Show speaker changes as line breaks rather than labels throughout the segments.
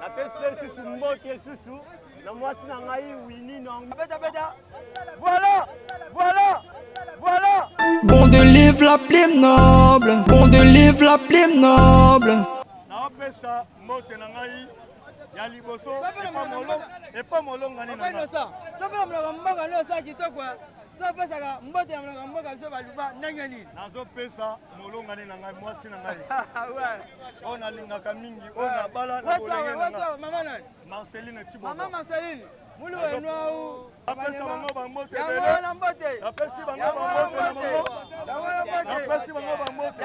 napesi lisusu mbote lisusu na mwasi na ngai wini nabeta voilà
voilà voilà
bon de livre la plus noble bon de livre la plus noble naopesa
mbote na ngai ya liboso epa molongani na
ngai nazopesaka mbote ya molonga mboka biso baluba ndenge nini nazopesa
molongani na ngai mwasi na ngai oyo
nalingaka
mingi oyo nabala na bolenge na ngai mama nani marceline
tibo mama
marceline
mulu wenwau napesa bango bambote
napesi
bango
bambote napesi bango bambote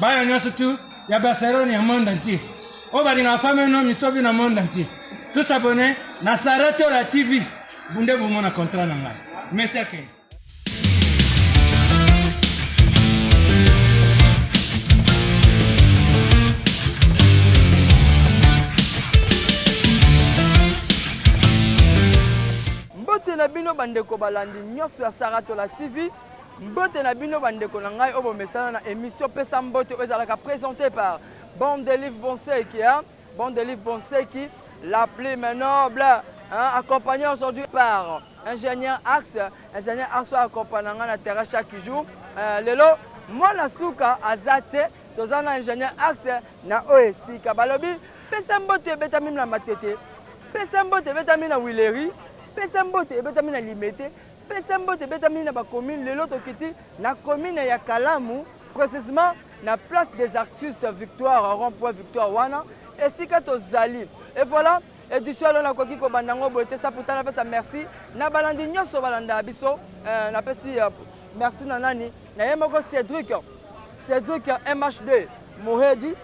bana nyonso tu ya barcelone ya monde entier oyo balingaka fami no misobi na monde entier tous abonne na sara tora tv bunde bomona contrat na ngai merci akende
na bino bandeko balandi nyonso ya saratola tv Mbote na bino ba ndeko na ngai oyo bomesana na emission pesa mbote oyo ezalaka presente par Bande de Livre Bonseki hein? Bande de Livre Bonseki la plume noble hein? accompagné aujourd'hui par ingénieur Axe ingénieur Axe oyo accompagna ngai na terrain chaque jour euh, lelo mwana suka aza te toza na ingénieur Axe na oyo esika balobi pesa mbote ebetami na Matete pesa mbote ebetami na Wileri pesa mbote ebetami na Limete Pesa mbote ebetami na ba commune lelo tokiti na commune ya Kalamu precisement na place des artistes victoire rond point victoire wana esika tozali et voilà edition alo nakoki kobanda yango boye te saputa napesa merci na balandi nyonso balanda biso eh, napesi eh, merci na nani na ye moko cédric cédric mhd mohedi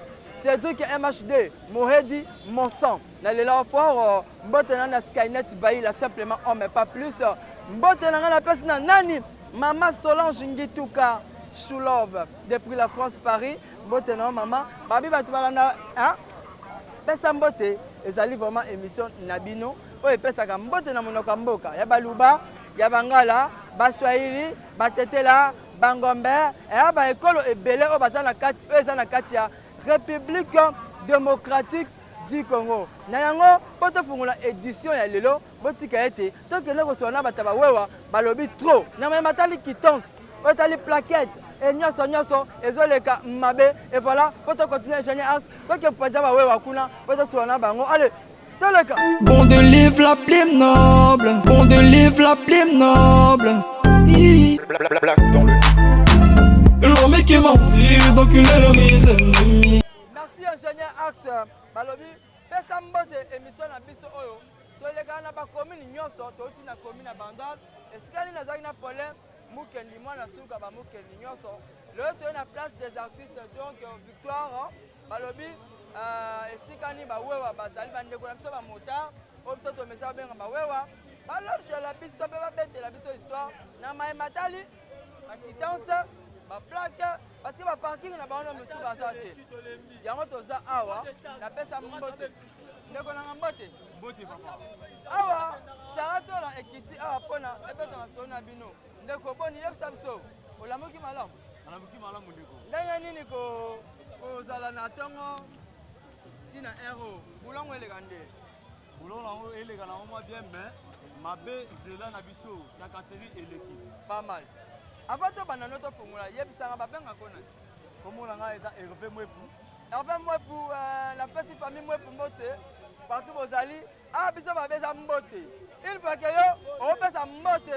cédric mhd mohedi monsan Na lela yo fort mbote na na Skynet Baila simplement homme pas plus mbote na nga na pesi na nani mama Solange Ngituka Shulove depuis la France Paris mbote na yo mama babi bato balanda hein pesa mbote ezali vraiment émission na bino oyo epesaka mbote na monoko ya mboka ya baluba ya bangala baswahili batetela bangombe eya baekolo ebele oyo baza na kati oyo eza na kati ya république démocratique du Congo. Na yango, mpo tofungola edition ya lelo, botika ete tokende kosolola na bato ya bawewa, balobi trop na maye matali quittance, oyo etali plaquette et nyonso nyonso ezoleka mabe et voilà mpo tocontinue ingénieur ars toke mpenza bawewa kuna mpo tosolola na bango ale toleka bon de live
la plume noble bon de live la plume noble L'homme qui m'a envie d'enculer le mise Merci ingénieur
Ax balobi pesa mbote emission na biso oyo tolekana na bakomine nyonso touti na komine ya bandal esika nini nazalaki na problème mukendi mwana suka bamukendi nyonso lelo toye na place des artistes donc euh, victoire balobi euh, esika nini bawewa bazali bandeko na biso bamotard oyo biso tomesa babenga bawewa balobela biso mpe babetela biso histoire na mai matali ba titance ba plaque parce que ba parking na bango mosusu baza te yango toza awa napesa mbote ndeko nanga mbote mbote papa awa sara tola ekiti awa mpona epesa masolo na bino ndeko boni yebisa biso olamuki malamu alamuki malamu ndeko ndenge nini kozala na ntongo ntina ero bulongo eleka nde boulot na yango eleka na yango mwa bien mais mabe zela na biso na kaseri eleki pas mal avant tobanda no tofongola yebisanga babengaka ona komona ngai eza herve mwepu herve mwepu euh, napesi famille mwepu mbote partout bozali a ah, biso babe eza mbote il faut ke yo opesa mbote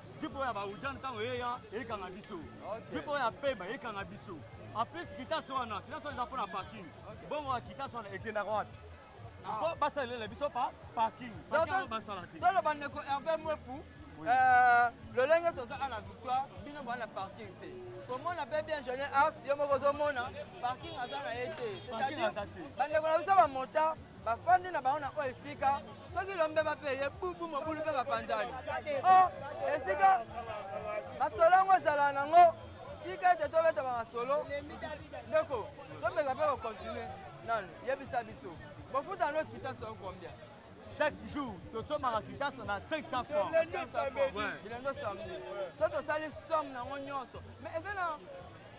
Jupe oyo ya Baujan ntango eya ekanga biso. Jupe oyo ya Pemba ekanga biso. En plus Kitaso wana, Kitaso eza mpo na parking. Bongo ya Kitaso wana ekendaka wapi? Ah. Fo basalela biso pa parking. Bakanga basala te. Tolo bandeko Hervé Mwepu, euh, lolenge toza à la victoire, bino bana parking te. komona mpe bien jeune as yo moko ozomona parking aza na ye te c'est-à-dire bandeko na biso bamota bafandi na bango na oyo esika soki lombeba mpe ye bubu mobulu mpe bapanzani o oh, esika masolo yango ezala nango tika ete tobetama masolo ndeko tomeka mpe kokontinue nano yebisa biso bofuta no kita soko combien chaque jour tosombaka kitasa na 500 francs bilendo samedi so tosali somme nango nyonso mais eza na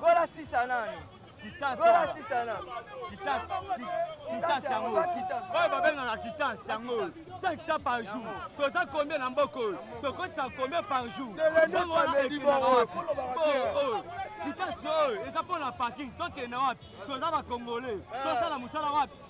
Gola sisa nani? Gola sisa nani? Kitasi
yango oyo babengaka kitasi yango oyo 500 par jour toza combien na mboka oyo tokotisa combien par jour kitasi oyo eza mpo na parking tokende wapi toza bakongole tosala mosala wapi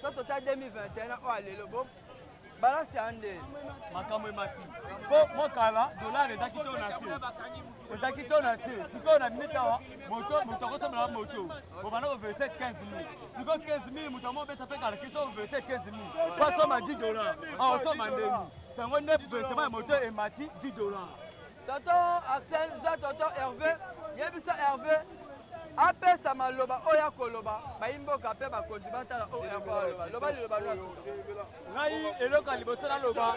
so tota 2021 oyo alelo bo balance ya nde makambo emati
mpo mokala dollar ezaki to na se ezaki to na se sikoyo na mita wa moto moto akosombela wa moto obanda koverse 15 mil sikoyo 15 mil moto yango obeta mpe kalaki so overse 15 mil po asomba 10 dollar aosomba ndeni yango nde versement ya moto emati 10 dollar Tonton
Arsène za tonton Hervé, yebisa Hervé apesa maloba oyo akoloba bayimboka mpe bakonzi batala oyo Hervé aloba. Loba liloba lwa ngai
eloko ya liboso naloba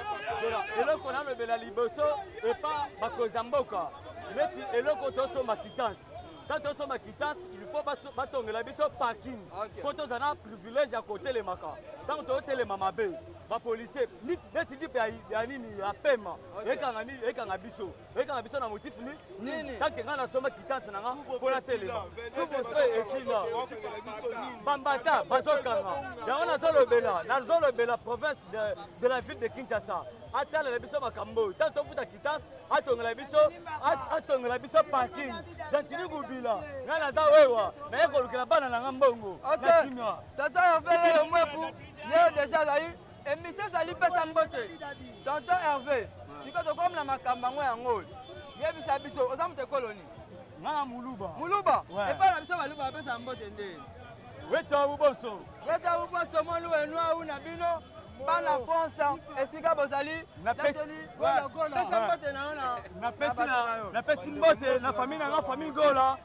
eloko nalobela liboso epa bakonzi ya mboka neti eloko tosomba kitance ka tosomba kitance il faut batongela biso parking mpo tozala na privilège ya kotelemaka ntango tozotelema mabe ba policier neti lipe ya nini ya pema ekanga nini ekanga biso ekanga biso na motif ni nini kake ngai nasomba kitansi na nga mpo natelema tumoso esila bambata bazokanga yango nazolobela nazolobela province de la ville de kinshasa atalela biso makambo oyo ntango tofuta kitansi atongela biso atongela biso parking gentini gubila ngai naza wewa naye kolukela bana na nga mbongo na kimia tata ya vele
mwepu Yo deja azali emission ezali pesa mbote tonton herve sikoyo tokomi na makambo yango yango yebisa biso oza moto ekoloni ngaa muluba
muluba epai na
biso baluba bapesa mbote nde wetawu
boso wetawu boso molu
enuau na bino bana france esika bozali napesi mbote
na famille na nga famille gola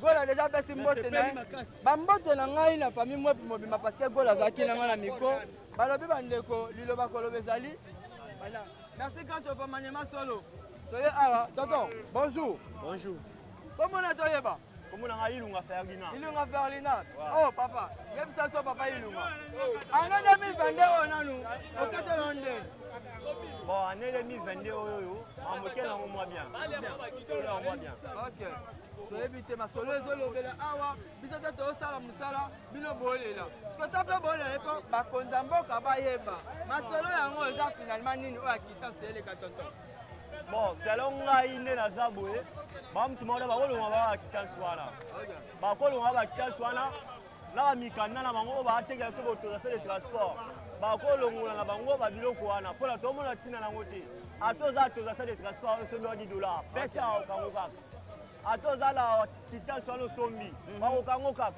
gola deja apesi mbote na ye bambote na ngai na famille mwepi mobimba parce que gola azalaki na ngai na miko balobi bandeko liloba koloba ezali voilà merci quand tu opamanyema solo toye awa tonton bonjour bonjour komona toyeba komona ngai ilunga ferlina ilunga ferlina
o oh, papa yebisa so papa ilunga ano 2022 oyo nanu oketelo nde bon
année 2022 oyo oyo amoke nango mwa bien toyebi
te masolo ezolobela awa biso te tosala mosala bino bolela soki ta mpe bolela eko bakonza mboka bayeba masolo yango eza finalement nini oyo akitance eleka tonton bon
selo ngai nde naza boye bamutu maona bakolonga baa bakitance wana bakolonga baa bakitance wana na bamikanda na bango oyo baatekela biso bautorisation de transport bakolongola na bango babiloko wana mpo na tomona ntina na yango te ata oza autorisation de transport oyo soki oyoki dollar pesa okango kaka ata oza na kitasi wana osombi mhm. bakokanga kaka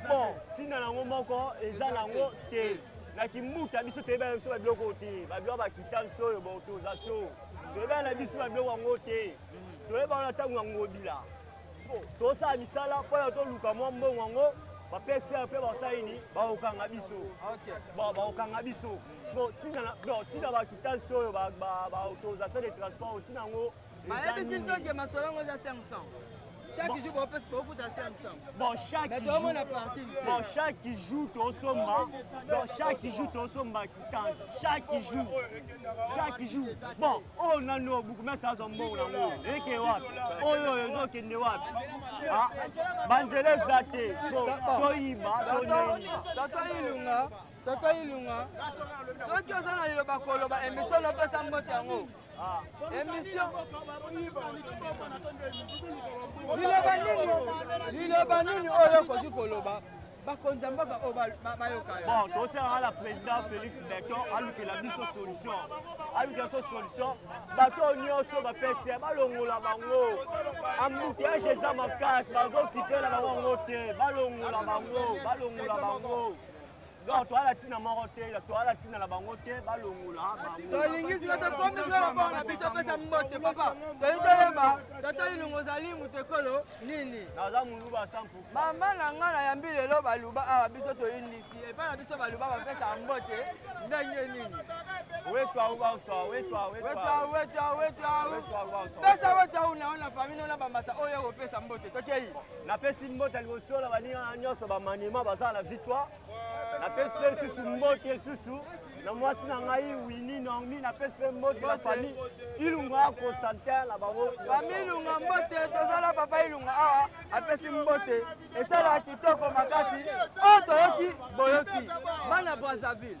bon ntina nango moko eza nango te na kimbuta biso toyebana na biso babiloko oyo te babiloko bakitasi oyo boto oza so toyebana na biso babiloko yango te mhm. toyeba wana ntango ya ngobila tosala misala mpo na toluka mwa mbongo yango bapesi mpe basali nini bakokanga biso bakokanga biso Bon, tina na bon, tina ba kitasi oyo ba ba, ba autorisation
de
transport
tina
ngo. Bayebisi
nto ke masolo
yango eza 500. Chaque
jour bopesi bofuta 500. Bon, chaque Mais jour.
tomona parking.
Bon, chaque
jour tosomba. Bon, chaque jour tosomba kitasi. Chaque jour. Chaque jour. Bon, oyo nano bukumesa azo mbongo nango. Eke wapi? Oyo ezokende wapi? Ah, banzela eza te. So, toyiba, tonene. Tata Ilunga,
Toto Ilunga, soki oza na liloba koloba emission napesa mbote yango emission liloba nini liloba nini oyo okoki koloba bakonzi ya mboka oyo bayoka yo bon tosengaka na
président félix beton alukela biso solution alukela biso solution bato oyo nyonso bapesi balongola bango ambuteage eza makasi bazokipe na bango yango te balongola bango balongola bango Donc toala tina moko te, toala tina na bango te, balongola bango. Tolingi sika tokomi
solo mpo na biso pesa mbote papa. Tolingi toyeba tata ilungu ozali moto ekolo nini? Naza moluba 100%.
Mama na ngai
nayambi lelo baluba awa biso toyindisi epai na biso baluba bapesa mbote ndenge nini? Wetwa
ubauswa, wetwa wetwa. Wetwa wetwa
wetwa. Pesa wetwa una ona famille ona bambasa oyo kopesa mbote. Tokeyi. napesi mbota
liboso na baninga na nyonso bamanema bazala na victoire napesi mpe lisusu mbote lisusu na mwasi na ngai wini normi napesi mpe mbote na famille ilunga ya constantin na bango famille ilunga mbote
tozala papa ilunga awa apesi mbote esalaka kitoko makasi oyo toyoki boyoki bana brazzaville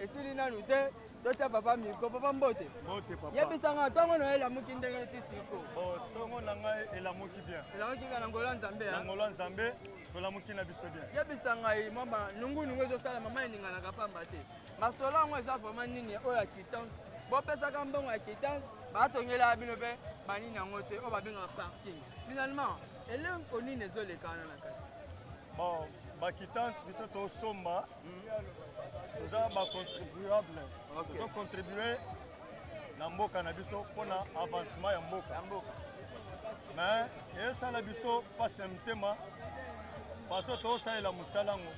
esili nanu te totya papa miko papa mbote yebisanga
ntongo na yo
elamuki ndenge ti siko ntongo oh, na
ngai elamuki bien elamuki bien na ngolo nzambe
na ngolo nzambe
tolamuki na biso bien yebisa ngai mwa
banungunungu ezosala mama eninganaka pamba te masolo yango eza vraiment nini oyo ya kitance bopesaka mbongo ya kitance batongelaka bino mpe banini yango te oyo babengaka parking finalement eleko nini ezolekana na kati bon
bakitance biso tosomba toza ba contribuable tozo contribue na mboka na biso mpo na avancement ya mboka mais esala biso mpasi ya motema faso tozosalela mosala yango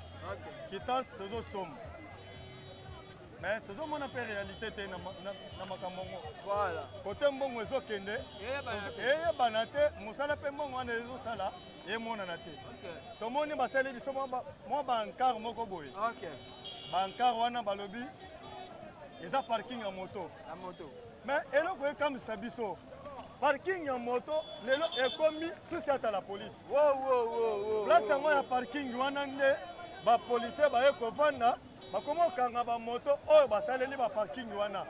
kitance tozosomba mais tozomona mpe réalité te na makambo yango
kote mbongo
ezokende eyebana te mosala mpe mbongo wana ezosala emonana te tomoni basali
biso
mwa bankar moko boye
bankar
wana balobi eza parking ya moto
mais eloko
ekamwisa biso parking ya moto lelo ekomi susi ata la polise
place yango ya
parking wana nde bapolisier baye kovanda bakoma kokanga bamoto oyo basaleli baparking wana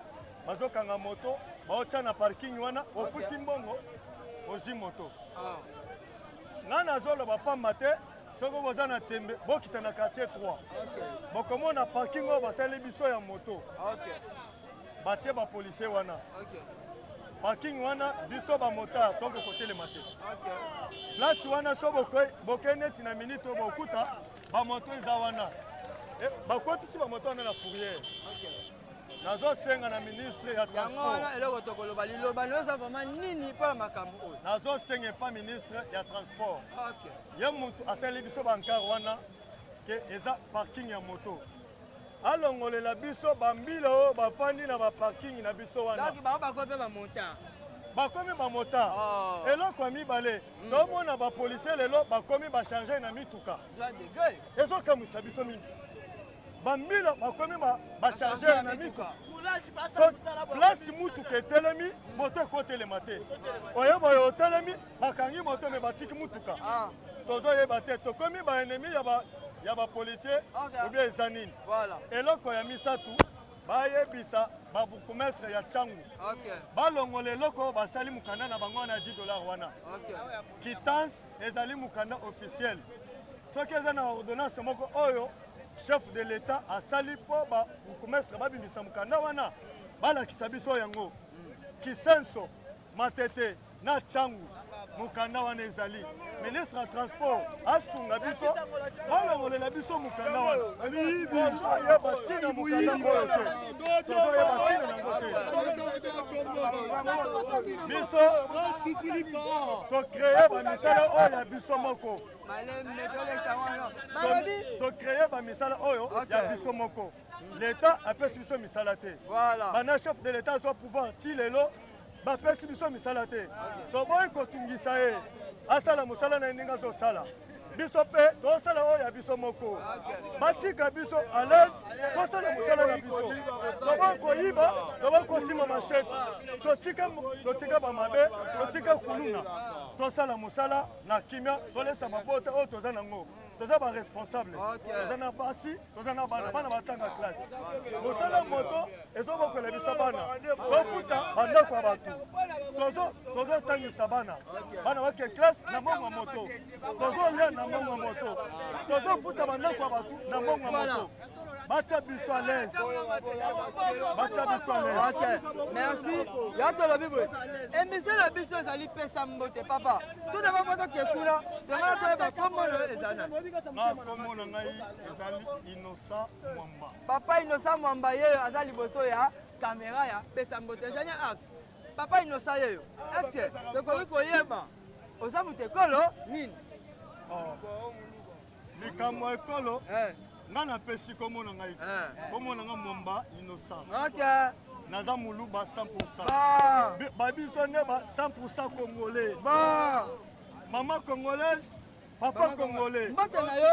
bazokanga moto baotya na parking wana ofuti mbongo ozwi moto ah. ngai nazoloba pamba te soki boza na tembe bokita na quartier 3 bokomona parking oyo basali biso ya moto batie bapolisier wana parking wana biso bamotar toko kotelema te place wana so bokei neti na minite oyo bokuta bamoto eza wana eh, bakotisi bamoto wana na fourriere nazosenga na ministre ya yango wana eloko tokoloba
liloba no eza vraimen nini mpo na makambo oyo nazosenga epa
ministre ya transport ye
motu asaleli
biso bankar wana ke eza parking ya moto alongolela biso bambila oyo bafandi na baparking na biso wana
bakomi
bamota oh. eloko ya mibale mm. tomona bapolisier lelo bakomi bacharge na mituka ezokamwisa biso mingi ba mbila bakomi ba chargeur na mituka place mutuka etelemi moto ekotelema te oye boye otelemi bakangi moto me batiki mutuka ah. tozoyeba te tokomi baennemi ya bapolicier obia eza nini eloko ya
misato
bayebisa babourgmestre ya cangu balongola eloko basali mokanda na bango wana ya 10 dollar wana kitance ezali mokanda officiel soki eza na ordonnance moko oyo chef de l'etat asali mpo babourgmestre babimisa mokanda wana balakisa biso yango kisenso matete na cangu mokanda wana ezali ministre ya transport asunga biso balongolela biso mokanda wana ozoyeba ntina mokanda oyo biso tocreye bamisala oyo ya biso moko tocreye bamisala oyo ya biso moko leta apesi biso misala te bana chef de leta azwa pouvoir ti lelo bapesi biso misala te toboyi kotungisa ye asala mosala na ye ndenge azosala biso mpe tosala oyo ya biso moko batika biso alaise tosala mosala na biso toboyi koyiba toboyi kosima mashete totika bamabe totika kuluna tosala mosala na kimia tolesa mabota oyo toza nango toza ba responsable toza na basi toza na bana bana batanga classe mosala moto ezobokolebisa bana bafuta bandako ya bato tozotangisa bana bana bake classe na mbongo ya moto tozolia na mbongo ya moto tozofuta bandako ya bato na mbongo ya moto Bacha biso à l'aise. Bacha biso à l'aise. Ok. Merci.
Ya tolobi boye. Emission na biso ezali pesa mbote papa. Tout d'abord moto ke kuna, yango toyeba kombo na ezali na. Na kombo na
ngai ezali Innocent Mwamba. Papa Innocent
Mwamba yeyo aza liboso ya kamera ya pesa mbote. Ezali as. Papa Innocent yeyo. Est-ce que tokoki koyeba oza moto ekolo nini? Oh.
likambo ya ekolo eh. nga napesi komona ngai eh. komona nga momba innocent naza moluba 100 babiso nde ba 100 congolais mama congolaise papa congolais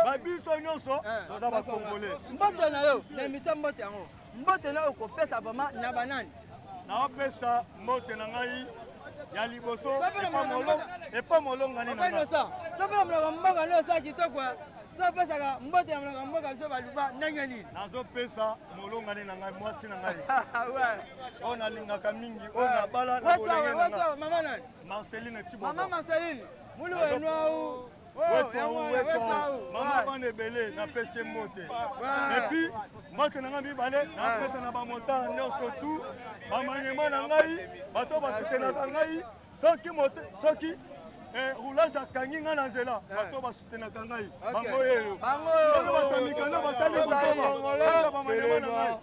babiso nyonso eh. toza bacongolais mbote na yo
na emisa mbote yango Mbote nayo okopesa vraiment na banani? Naopesa
mbote na ngai ya liboso epa molongani na ngai. Soki na mloka
mboka nao saa kitoko sopesaka mbote ya mloka mboka biso baluba ndenge nini? Nazopesa
molongani na ngai mwasi na ngai oyo nalingaka mingi oyo nabala na bolenge na ngai. Mama nani? Marceline
Tiboba. Mama
Marceline,
mulu enwau mama
bana ebele napesi mbote epuis mbote na ngai mibale napesa na bamontana nyonso tu bamaniema na ngai bato basutenaka ngai soki soki eh, roulage akangi ngai na nzela eh. bato basutenaka ngai bango yeyo bato mikanda basali botoma bamaniema na ngai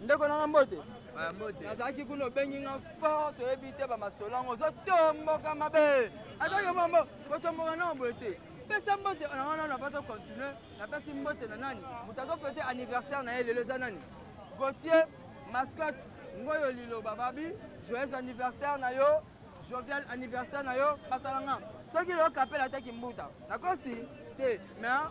Ndeko nanga mbote. Ah, mbote. Nazalaki kuna obengi nga fort toyebi te ba masolo yango ozotomboka mabe. Ataki mambo kotomboka nango boye te. Pesa mbote na wana na bato continue napesi mbote na nani moto azofete anniversaire na ye lelo eza nani Gauthier mascotte ngoyo liloba babi joyeux anniversaire na yo jovial anniversaire na yo basala nga soki leo kapela te kimbuta nakosi te mais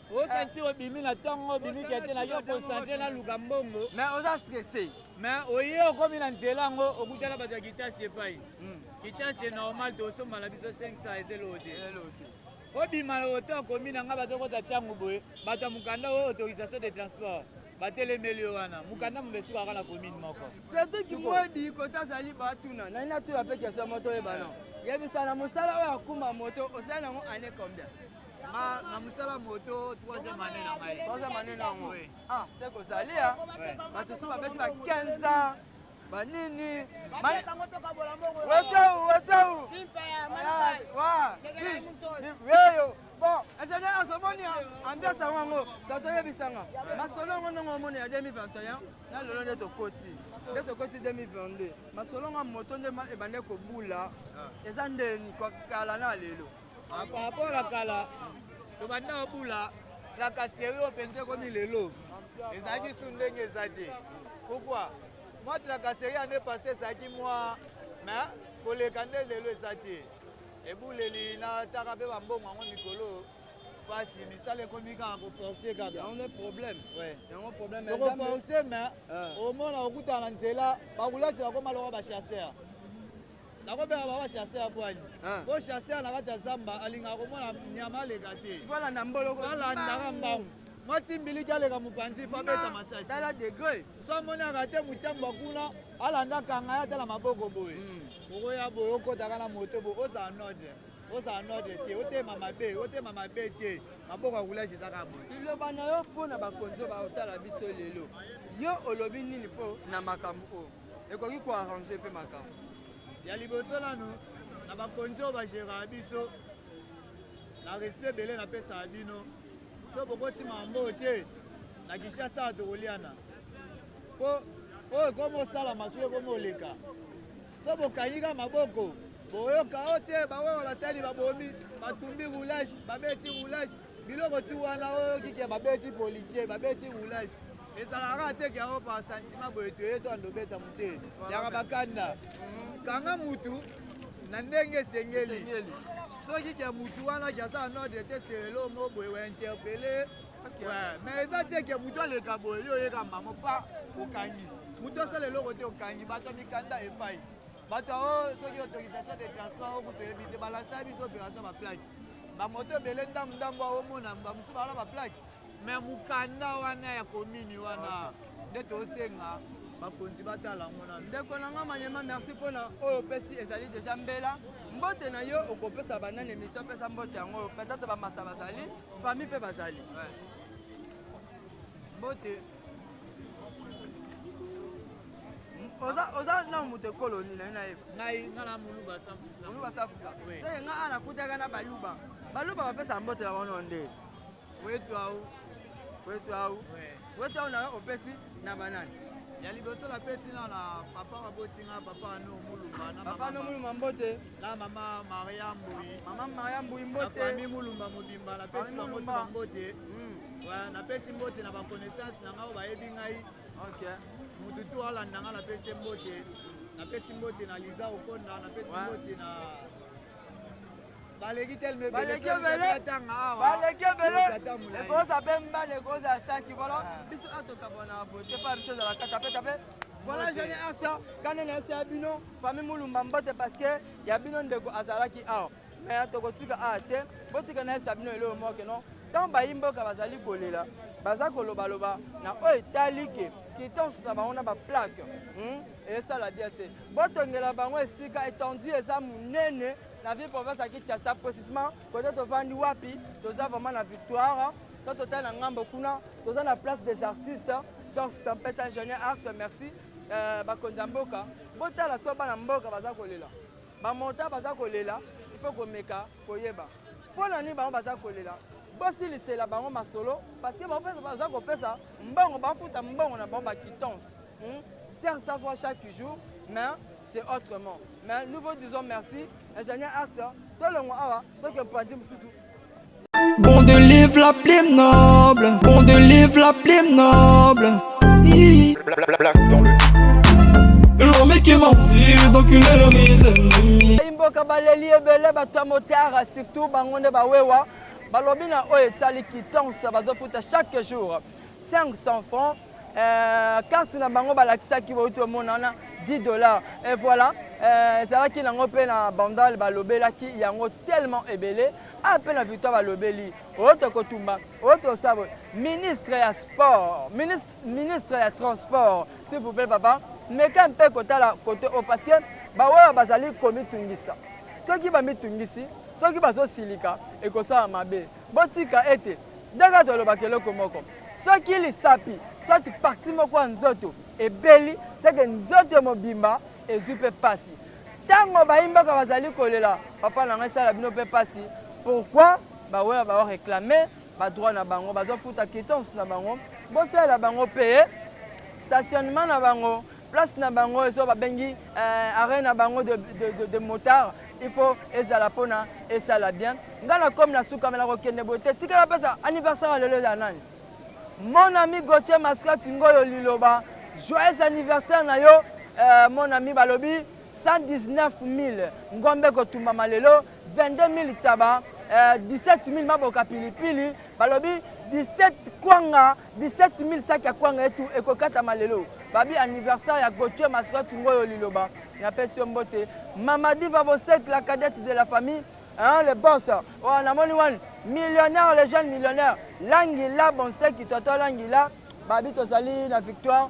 o sentir obimi
na ntongo obimi kete na yo concentre na luka mbongo mais oza stresse
mais oye
okomi na nzela yango okutana bato ya kitasi epai hmm. kitasi e normal tosomba na biso 500 ezeloo te obima na oto akomi na ngai bato okota ntango boye bato ya mokanda oyo autorisation de transport batelemeli yo wana mokanda mobe esukaka na commune moko surtout kimwedi
kota azali batuna nani natuna mpe kestion moto oyebana yebisa na mosala oyo akuma moto osali yango année combien nga na
mosala moto troisième année na ngai troisième année na yango
ah se kozali ya bato so babeti ba 15 ans banini wetau wetau weyo bon ingénieur azomoni ambiance yango yango tato oyebisanga masolo yango ndongo omoni ya 2021 na lelo nde tokoti nde tokoti 2022 masolo nga moto nde ebande kobula ah. eza ndeni kala na lelo Ah, par rapport ya
kala tobanda kobula tracasserie oyo mpenza ekomi lelo ezalaki su ndenge eza te pourkui mwa tracasserie ane passe ezalaki mwa me koleka nde lelo eza te ebuleli na taka mpe bambongo yango mikolo mpasi misala ekomi kaka koforce kaka yango nde problème
yango problème tokoforce me
omona okutana na nzela bakulasi bakoma lokola bachasseur nakobeka baba chasse ya bwani ah. po chasse ya na kati ya zamba alingaka komona nyama aleka te alandaka mbangu mwati mbiliki aleka mopanzi fo abeta masasi so amonaka te motambwa kuna alanda kanga ye ata na maboko boye hmm. okoya boye okotaka na moto boye ozala node ozala node te otema mabe otema mabe te maboko ya kulage ezaka boye liloba na yo mpo na
bakonzi oyo baotala biso lelo yo olobi nini mpo na makambo oyo ekoki ko arranger mpe makambo. Ya liboso
nanu na bakonzi oyo bageraka biso na respect ebele napesaka bino so bokoti mambo te na kinshasa awa tokoliana mpo oyo ekomi osalama soki ekomi oleka so bokangika maboko boyoka o te bawewa basali babomi batumbi roulage babeti roulage biloko tu wana oyoki ke babeti policier babeti roulage ezalaka te ke yango par sentiment boye toye to andobeta mote yaka bakanda kanga mutu na ndenge esengeli soki ke mutu wana ke aza na ordre te selelo mo boye wa interpele me eza te ke mutu aleka boye yo oyeka mbango pa okangi mutu asala eloko te okangi bato ya mikanda epai bato yango soki autorisation de transport oyo kutu oyebi te balansa biso opération baplake bamoto ebele ndambu ndambu aomona bamosusu balala baplake me mokanda wana ya komini wana nde tosenga bakonzi batala yango nano ndeko na nga manyema
merci mpona oyo opesi ezali deja mbela mbote na yo okopesa banani emission pesa mbote yango oyo peut-être bamasa bazali famille mpe bazali mbote oza na moto ekolo nini nayo nayeba ngai nga na
moluba safusa moluba
safusa te nga ana kutaka na baluba baluba bapesa mbote na bango nde Wetu au.
Wetu au.
Wetu au na opesi na banani? ya liboso
napesi na na papa baboti nga papa ano mulumba na papa ano mulumba mbote
na mama
maria mbui mama maria mbui mbote
na famille mulumba
mobimba napesi bango mbote hmm. napesi mbote na baconnaissance na ngai oyo bayebi ngai motu tu alanda ngai napesi mbote napesi mbote na liza okonda napesi mbote na baleki teleme baleki ebele
baleki ebele ekoza pe mbala ekoza ya saki vola biso atokabona bote pa biso ezala kaka pe tape vola jeune asa kane na ese ya bino fami mulumba mbote parceke ya bino ndeko azalaki awa mais tokotika awa te botika na ese ya bino eloo moke no ntango bayimboka bazali kolela baza kolobaloba na oyo etali ke kitons na bango na baplaque hmm? esala bien te botongela bango esika étendue eza munene na ville province ya kinshasa précisement kote tovandi wapi toza vraiment na victoire so totali na ngambo kuna toza na place des artistes donc tempête ingénieur arts merci euh, bakonzi ya mboka botala so bana mboka baza kolela bamonta baza kolela ifo komeka koyeba mpo na nini bango baza kolela bosilisela bango masolo parce que baza kopesa mbongo bafuta mbongo na bango baquittance Hmm? Serge Savoie chaque jour, mais c'est autrement. Mais nous vous disons merci, ingénieur Arts, hein. tout le monde awa, donc un point de Bon
de livre la plume noble, bon de livre la plume noble. Black dans le L'homme qui m'a vu, donc il est le mise. Imboka baleli
ebele bato ya motara surtout bango nde bawewa balobi na oyo etali kitansa bazofuta chaque jour 500 francs Euh, carte na bango balakisaki bauti omona wana 10 dollars et voilà euh, ezalaki nango mpe na bandal balobelaki yango tellement ebele a ah, mpe na victoire balobeli oyo tokotumba oyo tosala boye ministre ya sport ministre, ministre ya transport s'il vous plaît papa meka mpe kotala kote oyo parce que baoyo bazali komitungisa soki bamitungisi soki bazosilika ekosala mabe Botika ete Dona to alobaka eloko moko. Soki lisapi soit partie moko ya nzoto ebeli, c'est que nzoto mobimba ezwi mpe mpasi. Tango bayi mboka bazali kolela papa na ngai esala bino mpe mpasi, pourquoi ba wera ba reclamer ba droit na bango, bazo futa quittance na bango, bosalela bango mpe stationnement na bango. place na bango ezo babengi eh, arène na bango de, de, de, de motard il faut ezala mpona esala bien ngai na komi na suka me nakokende boye te tikala mpesa anniversaire ya lelo eza nani mon ami gautier masclati ngoyo liloba joyeux anniversaire na yo eh, mon ami balobi 119 000 ngombe kotumbama lelo 22 000 taba eh, 17 000 maboka pilipili balobi 17 kwanga 17000 sac ya kwanga etu ekokatama lelo babi anniversaire ya Gauthier Maswa Kingoyo Liloba na pesi yo mbote Mama Diva Bosek la cadette de la famille hein, le boss oyo namoni wani millionnaire le jeune millionnaire langila bonseki toto langila babi tozali na victoire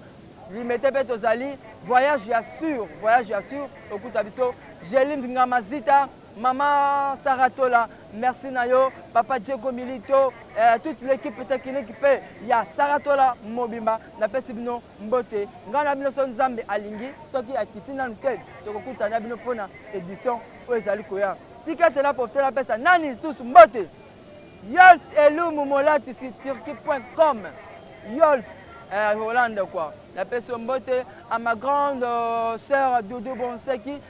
limete mpe tozali voyage ya sur voyage ya sur okuta biso gelinde ngamazita Maman Sarah Tola, merci na yo. Papa Diego Milito, euh, toute l'équipe technique pe ya Sarah Tola mobimba na pesi bino mbote. Nga na bino so Nzambe alingi soki akiti nanu te tokokuta na bino pona édition oyo ezali koya. Tika tela profiter na pesa nani lisusu mbote. Yols Elumu Molati si turki.com. Yols euh, Hollande quoi. La pesi mbote à ma grande euh, sœur Doudou Bonseki